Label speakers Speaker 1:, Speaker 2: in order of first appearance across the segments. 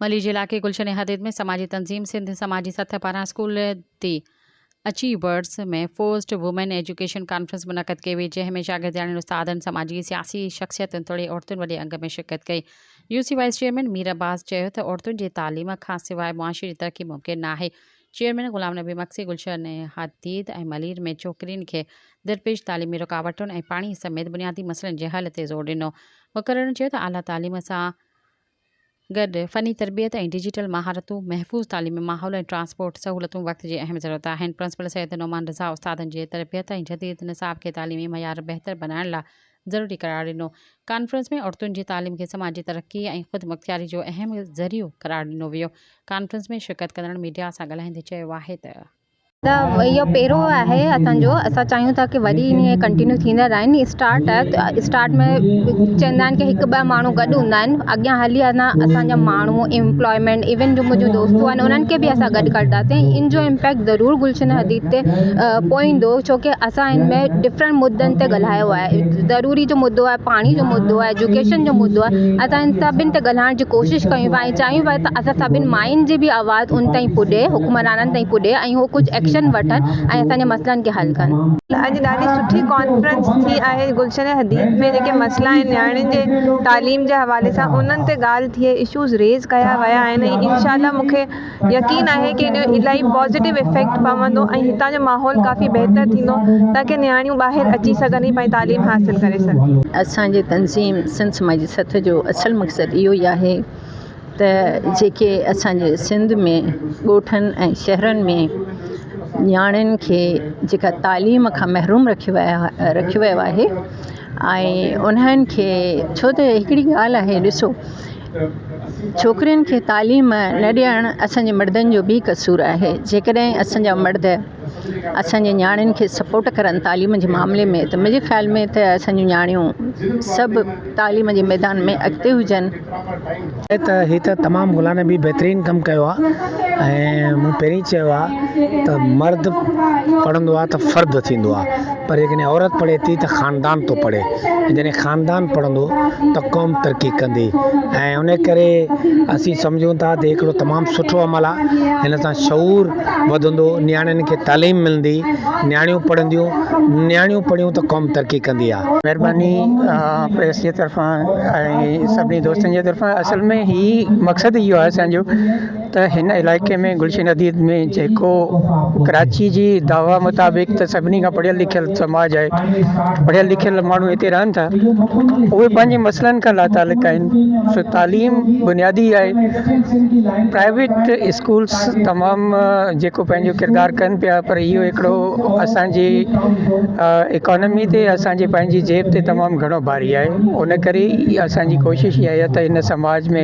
Speaker 1: ملير جي علائقي گلشن احاديت ۾ سماجي تنظيم سنڌ سماجي سٿ پاران school the achievers ۾ first women education conference منعقد ڪئي وئي جنهن ۾ شاگردياڻين استادن سماجي سياسي شخصيتن توڙي عورتن وڏي انگ ۾ شرڪت ڪئي U C vice chairman Mir Abbas چيو ته عورتن جي تعليم کان سواء معاشري ترقي ممڪن ناهي چيئرمين غلام نبي مگسي گلشهر ۾ حديد ۽ ملير ۾ ڇوڪرين کي درپيش تعليمي رڪاوٽن ۽ پاڻي سميت بنيادي مسئلن جي حل تي زور ڏنو. مقررن چيو ته اعليٰ تعليم سان گڏ فني تربيت ۽ ڊجيٽل مهارتون، محفوظ تعليمي ماحول ۽ ٽرانسپورٽ سهولتون وقت جي اهم ضرورت آهن. پرنسپل سيد نعمان رضا استادن جي تربيت ۽ جديد نصاب کي تعليمي معيار بهتر بنائڻ لاء ضروري قرار ڏنو. ڪانفرنس ۾ عورتن جي تعليم کي سماجي ترقي ۽ خودمختياري جو اهم ذريعو قرار ڏنو ويو. ڪانفرنس ۾ شرڪت ڪندڙن ميڊيا سان ڳالهائيندي چيو آهي ته. ته اهو
Speaker 2: پيرو آهي اسان جو اسان چاهيون ٿا ته وري ائين ڪنٽينيو ٿيندا رهن اسٽارٽ آهي ته اسٽارٽ ۾ چوندا آهن ڪي هڪ ٻه ماڻهو گڏ هوندا آهن اڳيان هلي انا اسان جا ماڻهو امپلائمينٽ ايون جو منهنجو دوستون آهن انهن کي به اسان گڏ ڪرنداسين ان جو امپيڪٽ ضرور گلشن حديد تي پوئيندو ڇو ڪي اسان هن ۾ ڊفرنٽ مدن تي ڳالهايو آهي ضروري جو مدو آهي پاڻي جو مدو آهي ايجوڪيشن جو مدو آهي اسان ھن سڀن تي ڳالهائڻ جي ڪوشش ڪيون پيا ۽ چاهيون پيا ته اسان سڀني ماين جي به آواز ان تائين پڄي حڪمرانن تائين پڄي ۽ هو ڪجهه ايڪشن وٺن ۽ اسان جي مسئلن کي حل ڪن. اڄ ڏاڍي سٺي
Speaker 3: ڪانفرنس ٿي آهي گلشن حديد ۾ جيڪي مسئلا آهن نياڻين جي تعليم جي حوالي سان انهن تي ڳالهه ٿئي اشوز ريز ڪيا ويا آهن ۽ انشاء الله مونکي يقين آهي ڪي انهيو الائي پازيٽو افيڪٽ پوندو ۽ هتان جو ماحول ڪافي بهتر ٿيندو تاڪي نياڻيون ٻاهر اچي سگهن ۽ پنهنجي تعليم حاصل ڪري سگهن. اسان جي تنظيم
Speaker 4: سنڌ سماجي سٿ جو اصل مقصد اهو ئي آهي ته جيڪي اسان جي سنڌ ۾ ڳوٺن ۽ شهرن ۾ نياڻين کي جيڪا تعليم کان محروم رکيو ويا رکيو ويو آهي ۽ انهن کي ڇو ته هڪڙي ڳالهه آهي ڏسو ڇوڪرين کي تعليم نه ڏيڻ اسان جي مڙدن جو به قصور آهي جيڪڏهن اسان جا مرد اسان جي نياڻين کي سپورٽ ڪرن تعليم جي معاملي ۾ ته منهنجي خيال ۾ ته اسان جون نياڻيون سڀ تعليم جي ميدان ۾ اڳتي هجن ته
Speaker 5: هي ته تمام مولانا به بهترين ڪم ڪيو آهي ۽ مون پهرين چيو آهي ته مرد پڙهندو آهي ته فرد ٿيندو آهي پر جيڪڏهن عورت پڙهي ٿي ته خاندان ٿو پڙهي ۽ جڏهن خاندان پڙهندو ته قوم ترقي ڪندي ۽ ان ڪري اسين سمجهون ٿا ته هڪڙو تمام سٺو عمل آهي هن سان شعور وڌندو نياڻين کي تعليم ملندي نياڻيون پڙهنديون نياڻيون پڙهيون ته قوم ترقي ڪندي آهي مهرباني
Speaker 6: پريس جي طرفان ۽ سڀني دوستن جي طرفان اصل ۾ هي مقصد اهو آهي اسانجو ته هن علائقي ۾ گلشن حديد ۾ جيڪو ڪراچي جي دعويٰ مطابق ته سڀني کان پڙهيل لکيل سماج آهي پڙهيل لکيل ماڻهو هتي رهن ٿا اهي پنهنجي مسئلن کان لاتعلق آهن سو تعليم بنيادي آهي پرائيويٽ اسڪولس تمام جيڪو پنهنجو ڪردار ڪن پيا پر اهو هڪڙو اسانجي اڪانمي تي اسانجي پنهنجي جيب تي تمام گهڻو باري آهي ان ڪري اسانجي ڪوشش اها آهي ته هن سماج ۾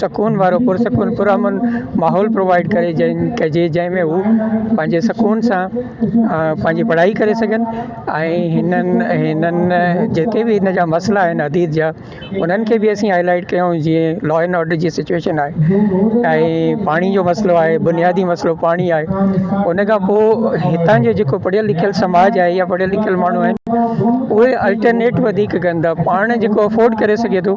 Speaker 6: سڪون وارو پرسڪون پرامن ماحول پرووائيڊ ڪري جنهن ڪجي جنهن ۾ هو پنهنجي سڪون سان پنهنجي پڙهائي ڪري سگهن ۽ هنن هنن جيڪي بي هن جا مسئلا آهن اديت جا انهن کي به اسين هاء لائيٽ ڪيون جيئن لا اينڊ آرڊر جي سچويشن آهي ۽ پاڻي جو مسئلو آهي بنيادي مسئلو پاڻي آهي ان کان پوء هتان جو جيڪو پڙهيل لکيل سماج آهي يا پڙهيل لکيل ماڻهو آهن اهي الٽرنيٽ وڌيڪ ڪن ٿا پاڻ جيڪو افورڊ ڪري سگهي ٿو